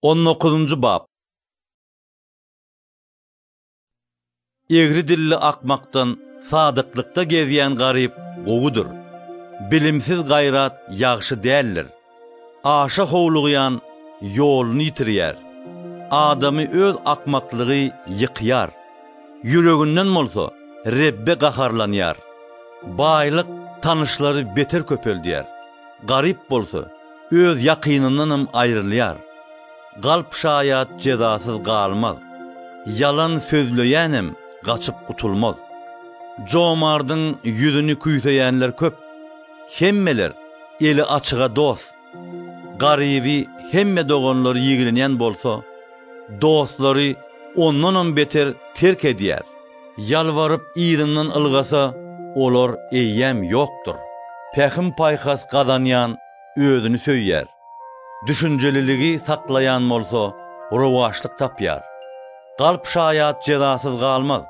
On dokuzynjy bap. Egri dilli akmakdan sadyklykda gezýän garyp gowudyr. Bilimsiz gaýrat ýagşy däldir. Aşa howlugýan ýoluny ýitirýär. Adamy öz akmaklygy ýykýar. Ýüreginden bolsa Rebbe gaharlanýar. Baýlyk tanyşlary beter köpeldýär. Garyp bolsa, öz ýakynyndanam aýrylýar. Galp şaýat jezasyz galmaz. Ýalan sözleýänem gaçyp gutulmaz. Jomardyň ýüzüni küýseýänler köp. Hemmeler eli açyga dost. Garyby hemme doganlary ýigrenýän bolsa, dostlary ondanam beter terk edýär. Ýalbaryp yzyndan ylgasa, olar eýýäm ýokdur. Pähim-paýhas gazanýan özüni söýýär. Düşünjeliligi saklaýan bolsa rowaçlyk tapýar. Galp şaýat jezasyz galmaz.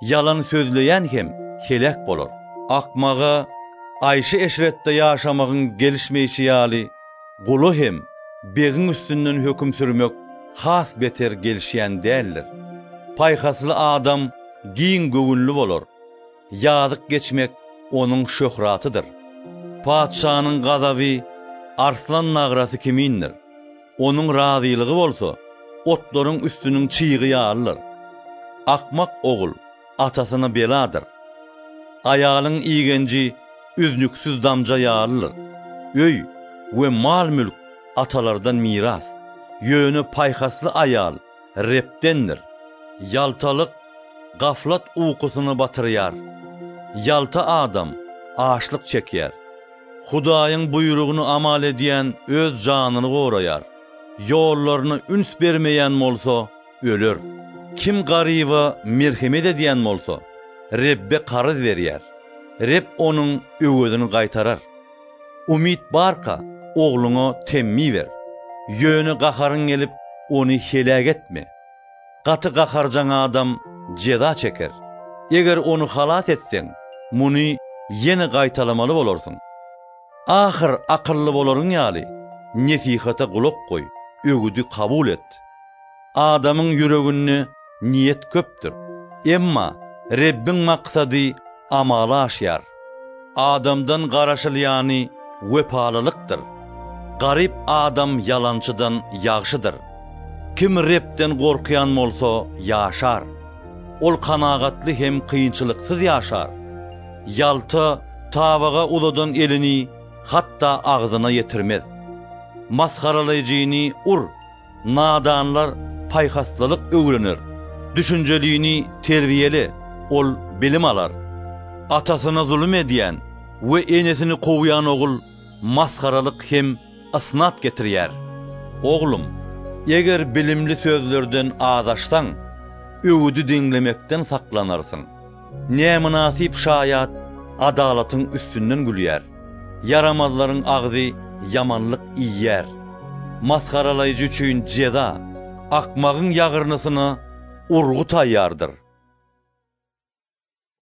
Ýalan sözleýän hem heläk bolar. Akmaga aýşy-eşretde ýaşamagyň gelişmeýşi ýaly gula hem begiň üstünden höküm sürmek has beter gelişýän däldir. Paýhasly adam giň göwünli bolar, ýazyk geçmek onuň şöhratydyr. Patyşanyň gazaby arslan nagrasy kimindir, onuň razylygy bolsa otlaryň üstüniň çygy ýalydyr. Akmak ogul atasyna beladyr. Aýalyň igenji üznüksiz damja ýalydyr. Öý we mal-mülk atalardan miras. Ýöne paýhasly aýal Rebdendir. Ýaltalyk gaflat ukusyny batyrýar. Ýalta adam açlyk çekýär. Hudaýyň buýrugyny amal edýän öz janyny goraýar. Ýollaryna üns bermeýän bolsa, öler. Kim garyba merhemet edýän bolsa, Rebbe karyz berýär, Reb onuň öwezini gaýtarar. Umyt barka, ogluňa temmi ber, ýöne gaharyň gelip, ony heläk etme. Gaty gaharjaň adam jeza çeker. Eger ony halas etseň, muny ýene gaýtalamaly bolarsyň. Ahyr akylly bolaryň ýaly, nesihata gulak goý, öwüdi kabul et. Adamyň ýüreginde niýet köpdür. Emma Rebbiň maksady amala aşýar. Adamdan garaşylýany wepalylykdyr. Garyp adam ýalançydan ýagşydyr. Kim Rebden gorkýan bolsa, ýaşar. Ol kanagatly hem kynçylyksyz ýaşar. Ýalta tabaga uzadan elini hatda agzyna ýetirmez. Masgaralaýjyny ur. Nadanlar paýhaslylyk öwrener. Düşünjelini terbiýele, ol bilim alar. Atasyna zulum edýän we enesini kowýan ogul masgaralyk hem ysnat getirýär. Oglum, eger bilimli sözlerden azaşsaň, öwüdi diňlemekden saklanarsyň. Nämynasyp şaýat adalatyň üstünden gülýär, ýaramazlaryň agzy ýamanlyk iýýär. Masgaralaýjy üçin jeza, akmagyň ýagyrnysyna urgy taýýardyr.